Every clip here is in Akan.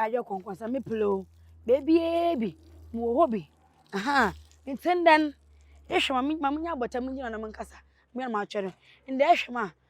ayɛ kɔnkɔnsa me pele o beebiara bi mo wɔ hɔ bi ahan ntɛn dɛn ehwɛ ma me ma me nya abɔta me gyina na me nkasa me na ma atwɛrɛ ndɛ ehwɛ ma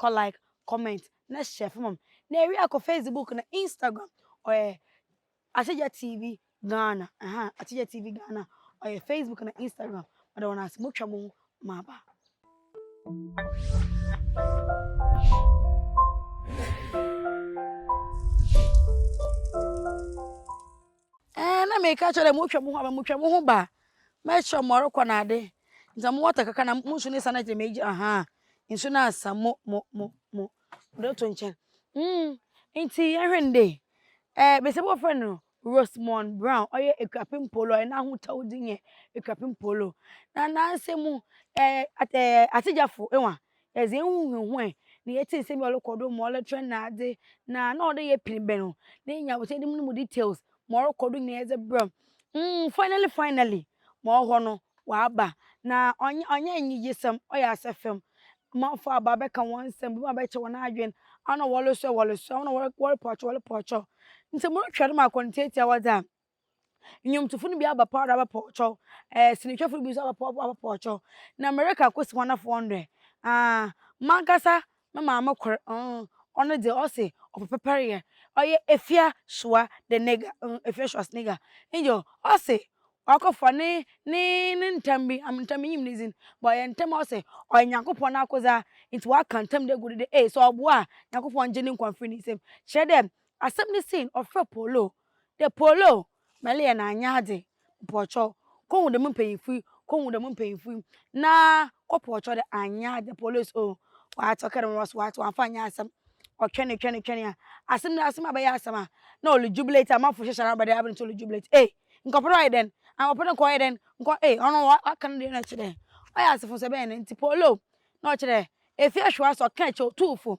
Kɔ like, comment na share fa ma me. Na ewie a kɔ Facebook na Instagram ɔyɛ Akyegya TV Ghana ɛha Akyegya TV Ghana ɔyɛ Facebook na Instagram ɔda wɔn ase mo twa mo ho ma aba. Ɛɛ, na meka kyerɛ dɛ motwa mo ho aba, motwa mo ho ba a, mɛkyerɛ mo ɔrekɔ na ade. Nti mo wɔta kakra na mo nsu no san akyerɛ me agya ahaa. Nsu no asa mo mo mo mo mode ato nkyɛn. Mm, nti yɛnhwɛ no dɛ. Ɛɛ, besiaba a wɔfrɛ no Rosemond Brown, ɔyɛ Ekuapem Mpoolo, ɔyɛ n'ahotɔw dzin yɛ Ekuapem Mpoolo. Na n'asamu, ɛɛ, at ɛɛ, Atsegyafo, ewa, Yɛdze hɛnho huahuae, na yɛtsee nsɛm bi a ɔrokɔ do, ma ɔrotrɛn n'adze, na nna ɔwɔ dɛ yɛpen bɛn no, na yenya abɔtsɛmde mu no mu details, ma ɔrokɔ do nyina yɛdze brɛ no. Mm, finally finally, ma ɔwɔ hɔ no, ɔaba. Na ɔnnyɛ ɔnnyɛ enyigyesɛm, ɔyɛ asafam. Amamfo aba abɛka hɔn nsɛm, binom abɛkyɛ hɔn adwen, aona wɔrosoa wɔrosoa, aona wɔrepɔkyɛw wɔrepɔkyɛw. Ntsi morohwɛ dɛm akɔntseetsee a wɔdze a, Nnwontofo no bi abɛpow do abɛpɔɔkyɛw, eh, sinihwɛfo no bi so abɛpow do abɛpɔɔkyɛw, na mereka akosi hɔn afɔr do ɛ? Ah, mankasa me maame kor, uh, ɔno dze ɔse ɔpɛ pɛpɛryɛ, ɔyɛ Efya Shoa de Nega, uh, Efya Shoa's Nega, nyew, ɔse ɔakɔfa ne, ne, ne ntam bi, am ntam minnyim ne dzin, but ɔyɛ ntam a ɔse ɔyɛ Nyankopɔn n'akodze a, ntsi ɔaka ntam do egu do dɛ, ee, sɛ ɔboa a, Nyankopɔn ngye no nkwa mfir ne nsamu. Kyerɛ dɛ, asɛm no sii no, ɔfrɛɛ Paul o, dɛ Paul o, mɛle yɛ na annyɛ adze, mpɔkyɛw, kohu dɛm mpanyimfo yi, kohu dɛm mpanyimfo yi, na kɔpɔkyɛw dɛ annyɛ adze, Paulos o, ɔatsew kɛr mbrɛ wɔse ɔatsew ɔammfa annyɛ asɛm, ɔtwɛnee twɛnee twɛnee a, asɛm no asɛm abɛyɛ asɛm a, na ɔrejubilate, amamfo hyehyɛ n'abrabɔ dɛ aber no so ɔrejubilate, ei, nka ɔpɛ dɛ ɔyɛ dɛn? Nka ɔpɛ dɛ nka ɔyɛ dɛn? Nka ɔ ei, ɔno ɔaka no dɛ nna ɔkyerɛ dɛ ɔyɛ asefo nso, ebɛn na ntsi? Paul o, na ɔkyerɛ dɛ efir ahwewa so ɔkãa kyɛw tuu fo,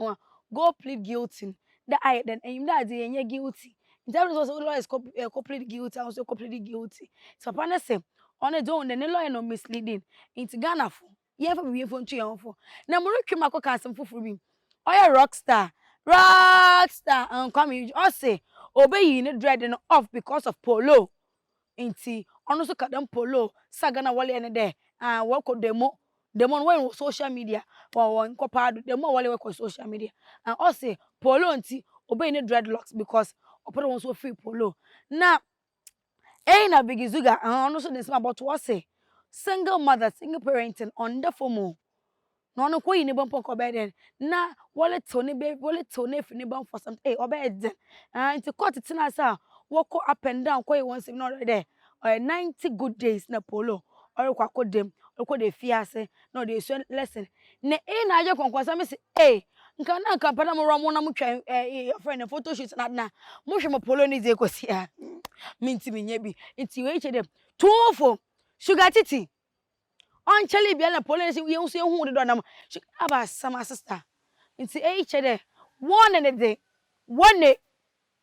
Ɔa go plead guilty no dɛ ayɛ dɛn enyimdɛ a dze yɛnnyɛ guilty ntsi afei so ɔsɛ wo lɔyers kɔ ɛkɔ plead guilty a wo so kɔ plead guilty ntsi papa no se ɔno dze ohun dɛ ne lɔyer no misleading ntsi Ghanafo yɛnfa bibi mfo nto hɛnho fo na morotwe mu akɔka asɛm fofor bi ɔyɛ rock star rock star Kwame Eugene ɔse obeyi ne dread no off because of polo Ntsi ɔno so ka dɛm Paul O. Saga no a wɔleyɛ no dɛ aah wɔkɔ demo, demo no wɔyɛ no wɔ social media, wɔ wɔ nkɔpaa do, demo a wɔleyɛ wɔkɔ social media, aah ɔse Paul O. ntsi obeyi ne dreadlocks because ɔpɛ dɛ hɔn so wɔfear Paul O. Na eii na Biggie Zuga, aah ɔno so de nsɛm abɔto, ɔse single mother, single parenting ɔnnda famu o, Na ɔno nka oyi ne bɔmpɔ nka ɔbɛyɛ dɛn na wɔretew ne bɛ wɔretew no afi ne bɔmpɔ sɛm ee ɔbɛyɛ dɛn ɛn nti kɔɔte tena ase a wɔkɔ up and down kɔyɛ wɔn nsɛm na ɔyɛ dɛ ɔyɛ ninety good days na polo ɔrekɔ akɔ dam ɔrekɔ de efi ase na ɔde esua lesson na ee na agye kɔnkɔnsa mi si ee nka na nka mpɛ na mo wura mo na mo twɛn ɛɛ yɛfrɛ no photo shoot na na mo hwɛ mo polo ne deɛ kɔ si a mi nti mi nyɛ bi nti wei kyɛ dɛ tuofo sugar titi ɔnnkyɛree biara na polisi yi nso ehu do dɛ ɔnam hwɛ aba asɛm a sister ntsi eyi kyerɛ dɛ wɔne ne dze wɔne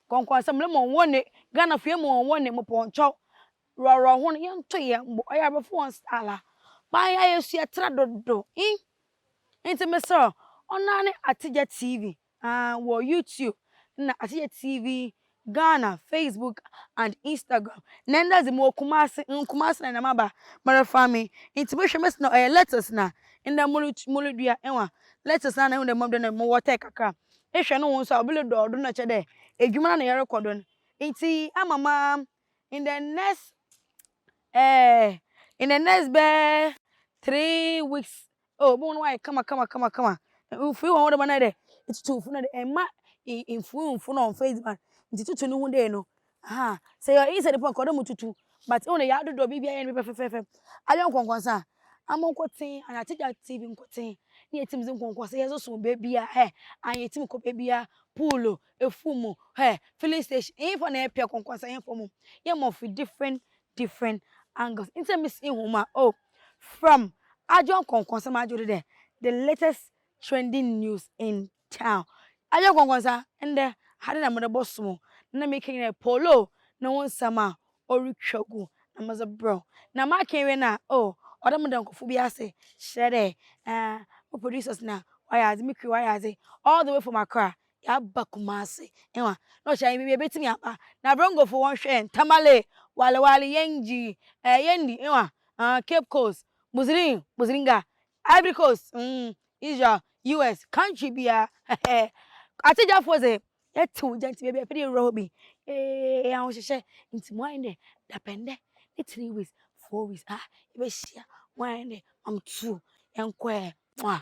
kɔnkɔnsɛm no ma wɔne Ghana fo yi ma wɔne mopɔnkyɛw rɔrɔ ho no yɛnto yɛn mbo ɔyɛ abrɔfo hɔn style a ban yɛ a yɛsua tra dodow inn ntsi meserɛ ɔno ara ne Atsigya TV. Ah wɔ YouTube na Asekyerɛ TV, Ghana, Facebook and Instagram. Na ndɛ dze mowɔ Kumase, mm Kumase na na maba merefa me ntsi mohwɛ mesi na ɔyɛ lettuce na ndɛ morutu morudua ewa lettuce na na ehu dɛ mma do na mo wɔtɛɛ kakra ehwɛ no ho so a obi rodɔw do na ɔkyerɛ dɛ edwuma na yɛrokɔ do no ntsi ama ma in the next eh in the next bɛyɛ three weeks Oh, bohu no wayɛ kama kama kama kama. Mfiri wɔn wɔde ma no ayɛ dɛ etutu mfiri no de ɛma mfiri mfo no ɔmfa edziban nti tutu no ho dɛ no. Aha, sɛ yɛ easy de pɔ nka ɔdɛ mo tutu but ehu dɛ yɛadodɔ biribi ayɛ no bi pɛfɛfɛɛfɛ. Ayɛ nkɔnkɔnsa a, amo nkotsen anaa Tagya TV nkotsen na yɛtsim dze nkɔnkɔnsa yɛdze som beebia hɛ aa yɛtsim kɔ beebia, pool o, efuom o, hɛ, filling station, henfa na yɛpɛ nkɔnkɔnsa henfa mom? Yɛma ɔfi different different angles ntsi na misi hom a oh from adwo nkɔnkɔnsɛm adwo do dɛ the latest trending news in town adwo nkɔnkɔnsa ndɛ ha dɛ na medze bɔsom o na mekã nyina yɛ Polo no ho nsɛm a orutwa gu na medze brɛ wo na makã ewie no a oh ɔda mo dɔnkofo bi ase kyerɛ dɛ eh mo producers na wɔayɛ adze mo crew wɔayɛ adze all the way from Accra Yɛaba Kumasi eh wa. Na ɔhyɛ yɛn baabi a yɛbɛtumi aba. Na Brongofo wɔn hwɛ yɛn. Tamale, Wale Wale, Yengi, eh Yendi eh wa, ah, Cape Coast, Buzirin, Buziringa, Ivory Coast, mm, Israel, US, country biara, hɛhɛɛ. Akyegyafoɔ dze, yɛte wo gya nti baabi a yɛpɛ dɛ yɛwura hɔ bi, eh, ahohyehyɛ. Nti mo ayɛ dɛ dapɛn dɛ ne three weeks, four weeks, ah, yɛbɛhyia. Mo ayɛ dɛ, ma me tuo, yɛnkɔ eh, mwah.